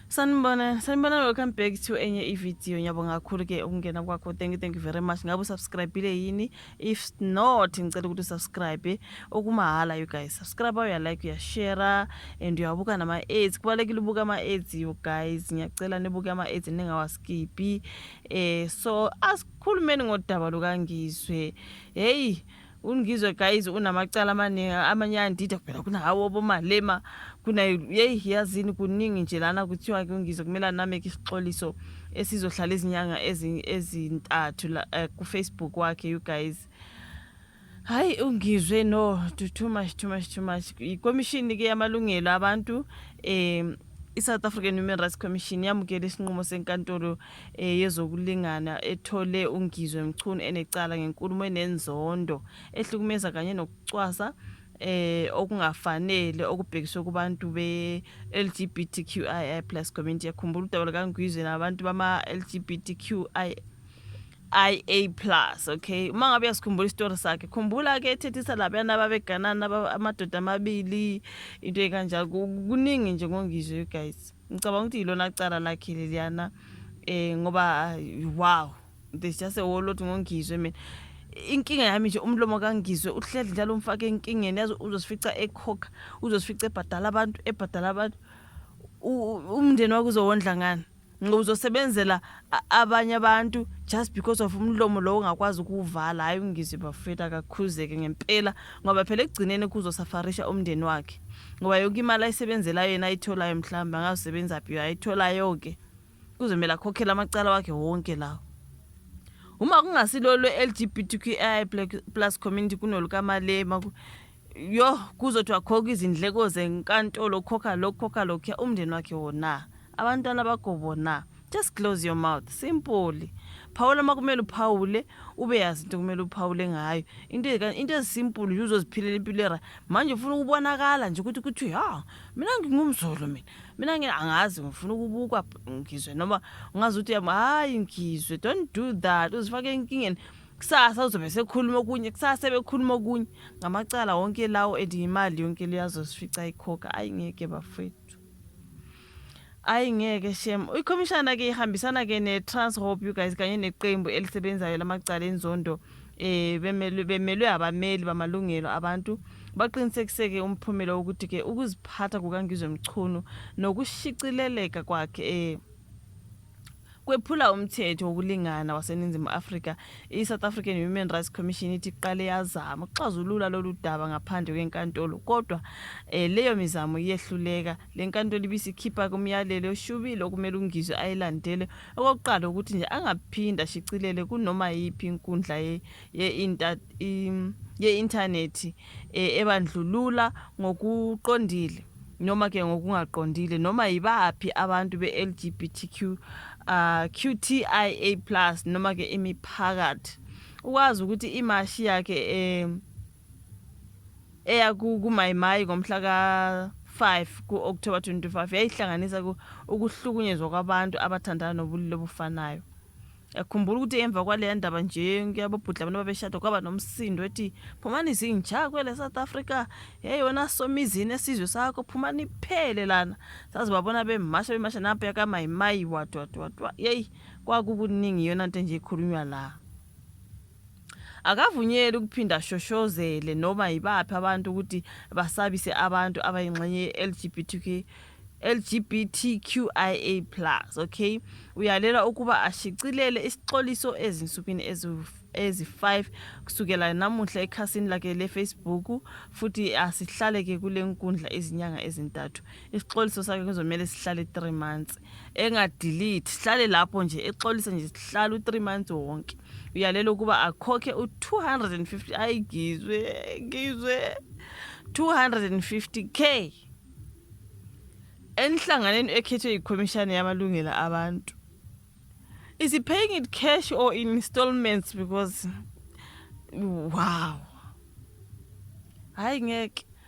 sanibona sanibona welcome back to enye ividiyo ngiyabonga kakhulu ke ukungena kwakho thank you thank you very much ngabe usubscribile yini if not ngicela ukuthi usubscribe okumahhala you guys subscribe uyalike uyashare and uyabuka nama-aids kubalulekile ubuka ama-aids you guys ngiyacela nibuke ama-aids ningawaskiphi um eh, so asikhulumeni ngodaba lukangizwe heyi ungizwe guys unamacala amaningi amanye ayandida phela kuna hawo obomalema kuna yeyi yazini kuningi nje lana kuthiwa ke ungizwe kumele anameke isixoliso esizohlala izinyanga ezintathu uh, eh, kufacebook wakhe you guys hayi ungizwe no too much too much too much ikomishini ke yamalungelo abantu um i-south african human rights commission yamukela isinqumo senkantolo eh, yezokulingana ethole uNgizwe Mchunu enecala ngenkulumo enenzondo ehlukumeza kanye nokucwasa eh okungafanele okubhekiswe kubantu be LGBTQIA+ community yakhumbula udaba likaNgizwe nabantu bama LGBTQIA IA plus okay uma ngabe uyasikhumbula isitori sakhe khumbula ke ethethisa labana babeganana amadoda amabili into ekanjalo kuningi nje ngongizwe you guys ngicabanga ukuthi yilona cala lakhe leliyana um ngoba wow there's just a whole lot ngongizwe mina inkinga yami nje umlomo kangizwe uhleli njalo umfake enkingeni yazi uzosifica ekhokha uzosifica ebhadala abantu ebhadala abantu umndeni wakho uzowondla ngani ngoba uzosebenzela abanye abantu just because of umlomo lowo ungakwazi ukuwuvala hhayi ungizwe bafethu akakhuzeke ngempela ngoba phela ekugcineni kuzosafarisha umndeni wakhe ngoba yonke imali ayisebenzelayo yena ayitholayo mhlawumbe angazisebenza phi ayitholayo-ke kuzomele akhokhele amacala wakhe wonke lawo uma kungasilo lwe-l g b t q i plus community kunolukamalema yo kuzothiwa khokha izindleko zenkantolo khokha lokhu khokha lokhuya umndeni wakhe wona abantwana bakho bona just close your mouth simple phawula uma kumele uphawule ube yazi into kumele uphawule ngayo into ezi- into ezisimpulu nje uzoziphilela impilo era manje ufuna ukubonakala nje ukuthi kuthiwe ha mina ngingumzulu mina mina ngi- angazi ngifuna ukubukwa p- ngizwe noma ungazi ukuthi yami hayi ngizwe don't do that uzifake enkingeni kusasa uzobe sekhuluma okunye kusasa sebekhuluma okunye ngamacala wonke lawo and yimali yonke leyazosifica ikhokha ayi ngeke bafethu Ayi ngeke shem. Uyikhomishana ke ihambisana ke ne Transhope you guys kanye neqembu elisebenzayo lamacala enzondo eh bemelwe bemelwe abameli bamalungelo abantu baqinisekiseke umphumela wokuthi ke ukuziphatha kukaNgizwe Mchunu nokushicileleka kwakhe eh kwephula umthetho wokulingana waseningizimu afrika i-south african human rights commission ithi iqale yazama ukuxazulula lolu daba ngaphandle kwenkantolo kodwa um leyo mizamo iyehluleka le nkantolo ibisikhipha kumyalelo oshubile okumele ungizwe ayilandele okokuqala ukuthi nje angaphinde ashicilele kunoma yiphi inkundla ye-intanethi ye e, ebandlulula ngokuqondile noma ke ngokungaqondile noma yibaphi abantu be-LGBTQ uh, ah, QTIA plus noma ke imiphakathi ukwazi ukuthi imashi yakhe eh eya kumayimayi ngomhla ka 5 ku-October 25 yayihlanganisa ukuhlukunyezwa kwabantu abathandana nobulili obufanayo yakhumbula ukuthi emva kwaleya ndaba nje kuyababhudla abantu babeshada kwaba nomsindo ethi phumani zinja kwele south africa yeyona somizini esizwe sakho phumani iphele lana saze babona bemasha bemasha nampa yakamayimayi wadwadwadwa yeyi kwakukuningi iyona nto enje ikhulunywa la Akavunyelwe ukuphinda ashoshozele noma yibaphi abantu ukuthi basabise abantu abayingxenye ye-LGBTQ LGBTQIA+, okay? Uyalela ukuba ashicilele isixoliso ezinsukwini ezi-5 kusukela namuhla ekhasini lakhe le-Facebook futhi asihlaleke kule nkundla izinyanga ezintathu. isixoliso sakhe kuzomele sihlale 3 months engadelete sihlale lapho nje exolise nje sihlale u3 months wonke uyalele ukuba akhokhe u250 ayi ngizwe ngizwe 250k enhlanganeni ekhethwe yikhomishana yamalungelo abantu is he paying it cash or in installments because wow hayi ngeke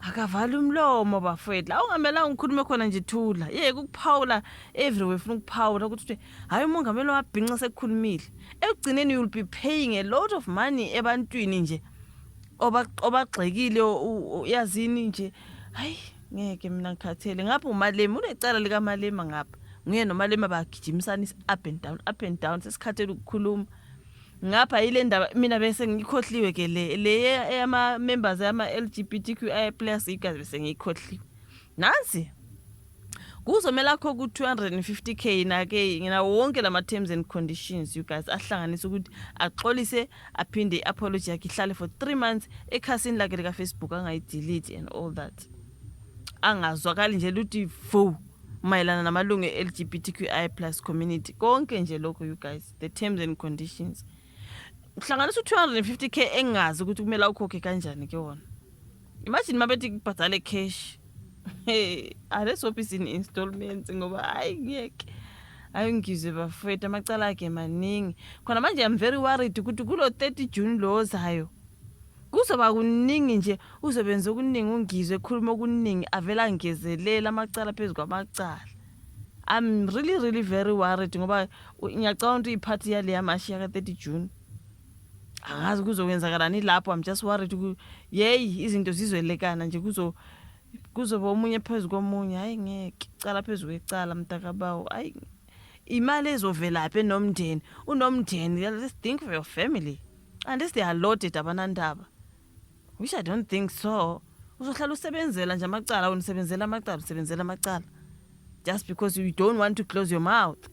akavala umlomo bafowethu la ungamelanga ungikhulume khona nje thula yeke ukuphawula everywhere funa ukuphawula ukuthi uthi hhayi umongameli wabhinca sekukhulumile ekugcineni you'll be paying a lot of money ebantwini nje obagxekile yazini nje hayi ngeke mina ngikhathele ngapha umalema unecala likamalema ngapha nguye nomalema bagijimisana is-up and down up and down sesikhathele ukukhuluma ngapha yile ndaba mina bese ngikhohliwe ke le le eyama members yama LGBTQI+ igazi bese ngikhohliwe nansi kuzomela akho ku 250k na ke ngina wonke lama terms and conditions you guys ahlanganisa ukuthi axolise aphinde i apology yakhe ihlale for 3 months ekhasini lakhe lika Facebook angayi delete and all that angazwakali nje luthi fo mayelana namalungu e-LGBTQI+ community konke nje lokho you guys the terms and conditions uhlanganisa u-two hundred and fifty k engazi ukuthi kumele awukhokhe kanjani ke wona imagine uma bethi kubhadale cash hey alesopisi ni-installments ngoba hayi ngiyeke hayi ngizwe bafowethu amacala akhe maningi khona manje am very worried ukuthi kulo 30 june lo ozayo kuzoba kuningi nje uzobenza okuningi ungizwe ekhuluma okuningi avele angezelele amacala phezu kwamacala I'm really really very worried ngoba ngiyacabanga ukuthi iphathi yaleya mashi yaka 30 June angazi kuzokwenzakalani lapho I'm just worried yeyi izinto zizwelekana nje kuzo kuzoba omunye phezu komunye hayi ngeke cala phezu kwecala mntakabawo hayi imali ezovelaphi enomndeni unomndeni let's think for your family and this they are loaded abanandaba Which I don't think so. Uzohlala usebenzela nje amacala wena usebenzela amacala usebenzela amacala. Just because you don't want to close your mouth.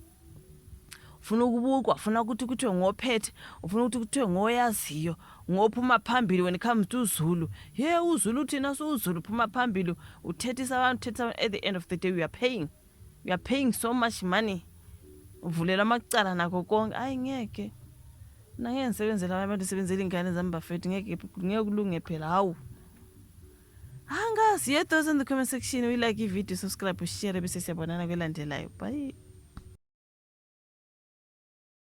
Ufuna ukubukwa, ufuna ukuthi kuthiwe ngophethe, ufuna ukuthi kuthiwe ngoyaziyo, ngophuma phambili when it comes to Zulu. Hey uZulu thina siwuZulu phuma phambili uthethisa abantu, uthethisa abantu at the end of the day we are paying. you are paying so much money uvulelwa amacala nakho konke ayi ngeke nangeke ngisebenzele abanye abantu sebenzela iy'ngane zami bafethu ngeke ngeke kulunge phela hawu angazi your thoughts in the comment section we like ivideo subscribe ushare bese siyabonana kwelandelayo bye